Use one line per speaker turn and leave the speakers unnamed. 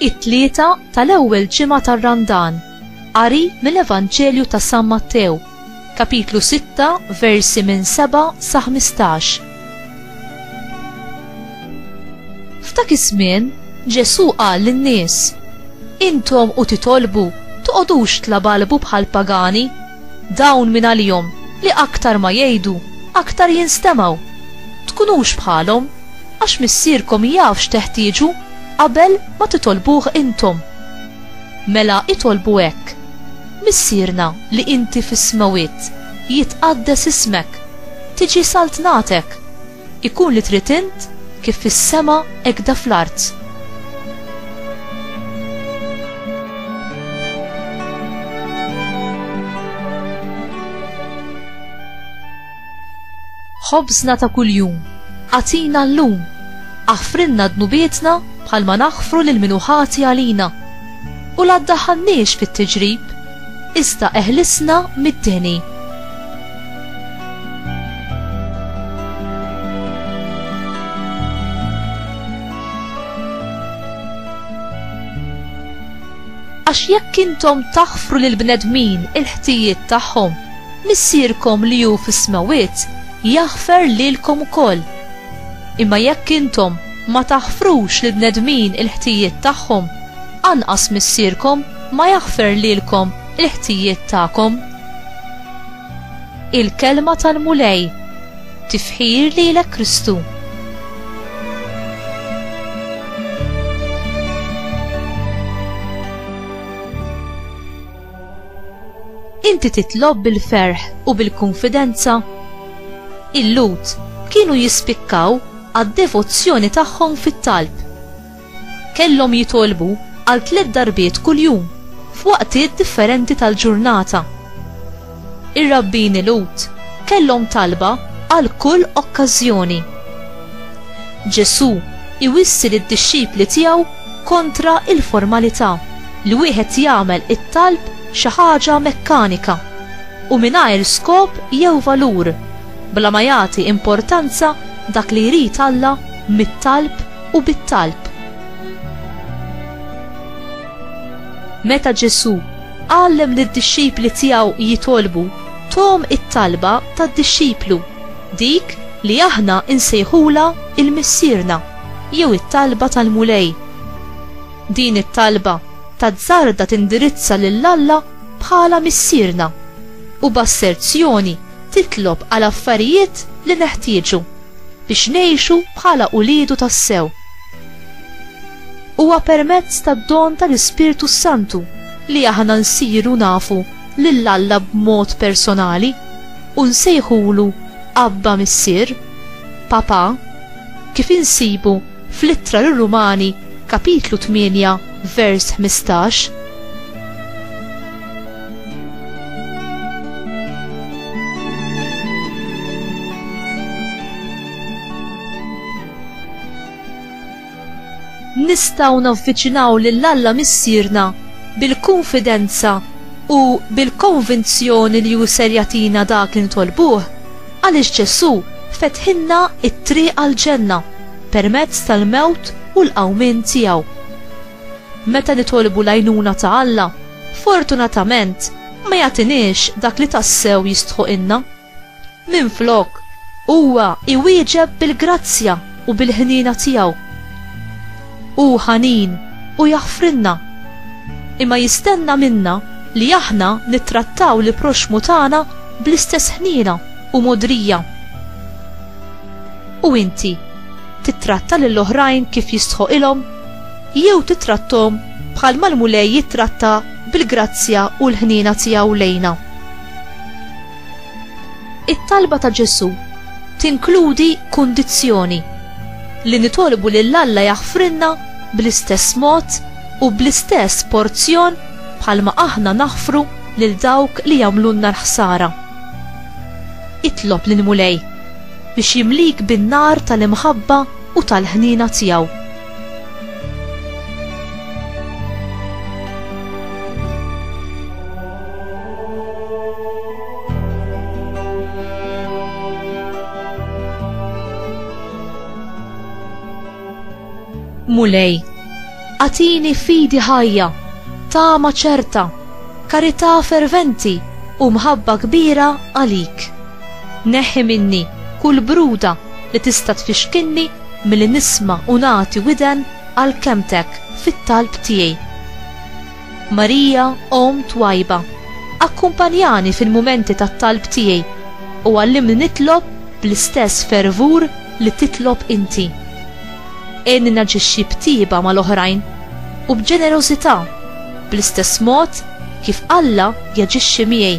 it-tlieta tal-ewwel ġimgħa tar-Randan, qari mill-Evanġelju ta' San Mattew. Kapitlu 6, versi minn 7 sa 15. F'dak iż-żmien, Ġesù qal lin-nies, Intom u titolbu, toqgħodux tlabalbu bħal pagani, dawn minn għalihom li aktar ma jgħidu, aktar jinstemgħu. Tkunux bħalhom, għax Missierkom jaf x'teħtieġu qabel ma titolbuh intom. Mela itolbu hekk. Missierna li inti fis-smewwiet, jitqaddes ismek, tiġi saltnatek, ikun li trid int, kif fis-sema hekk da fl-art. Ħobżna ta' kuljum agħtina llum. Aħfrilna dnubietna bħalma naħfru lil min hu ħati għalina. U la ddaħħalniex fit-tiġrib, iżda eħlisna mid-deni. Għax jekk intom taħfru lill-bnedmin il-ħtijiet tagħhom, Missierkom li hu fis-smewwiet jaħfer lilkom ukoll. Imma jekk intom ma taħfrux lill-bnedmin il-ħtijiet tagħhom, anqas Missierkom ma jaħfer lilkom il-ħtijiet tagħkom. Il-Kelma tal-Mulej. Tifħir lilek Kristu. Inti titlob bil-ferħ u bil-kunfidenza? Il-Lhud kienu jispikkaw għad-devozzjoni tagħhom fit-talb. Kellhom jitolbu għal tliet darbiet kuljum f'waqtiet differenti tal-ġurnata. Ir-rabbini Lhud kellhom talba għal kull okkażjoni. Ġesù iwissi lid-dixxipli tiegħu kontra l-formalità li wieħed jagħmel it-talb xi ħaġa mekkanika u mingħajr skop jew valur, bla ma jagħti importanza dak li jrid Alla mit-talb u bit-talb. Meta Ġesù għallem lid-dixxipli tiegħu jitolbu, thom it-talba tad-dixxiplu, dik li aħna nsejħulha il-Missierna jew it-talba tal-Mulej. Din it-talba tazzarda tindirizza lil Alla bħala Missierna u b'asserzjoni titlob għal affarijiet li neħtieġu biex ngħixu bħala uliedu tassew. Huwa permezz tad-don tal-Ispirtu s-Santu li aħna nsiru nafu lil Alla b'mod personali u nsejħulu Abba Missier, Papà, kif insibu fl-Ittra lir-Rumani kapitlu 8 vers 15. Nistgħu navviċinaw lil Alla Missierna bil-kunfidenza u bil-konvinzjoni li hu ser jagħtina dak li nitolbuh għaliex Ġesù fetħilna t-triq għall-ġenna permezz tal-mewt u l-qawmien tiegħu. Meta nitolbu l-għajnuna ta' Alla, fortunatament ma jagħtiniex dak li tassew jistħoqilna. Minflok, huwa iwieġeb bil-grazzja u bil-ħniena tiegħu. Hu ħanin u jaħfrilna, imma jistenna minna li aħna nittrattaw l-proxxmu tagħna bl-istess ħniena u mogħdrija. U inti tittratta lil oħrajn kif jistħoqilhom jew titrattom bħal mal-Mulej jittratta bil-grazzja u l-ħniena tiegħu lejna. It-talba ta' Ġesù tinkludi kundizzjoni li nitolbu lil Alla jaħfrilna bl-istess mod u bl-istess porzjon bħalma aħna naħfru lil dawk li jagħmlulna l-ħsara. Itlob lill-Mulej biex jimlik bin-nar tal-imħabba u tal-ħniena tiegħu. Mulej, għatini fidi ħajja, tama ċerta, karità ferventi u mħabba kbira għalik. Neħi minni kull bruda li tista' tfixkinni Milli nisma' u nagħti widen għal kelmtek fit-talb tiegħi. Marija, Omm twajba, akkumpanjani fil-mumenti tat-talb tiegħi u għallimni nitlob bl-istess fervur li titlob inti. Għinni naġixxi b'tjieba mal-oħrajn u b'ġenerożità bl-istess mod kif Alla jaġixxi miegħi.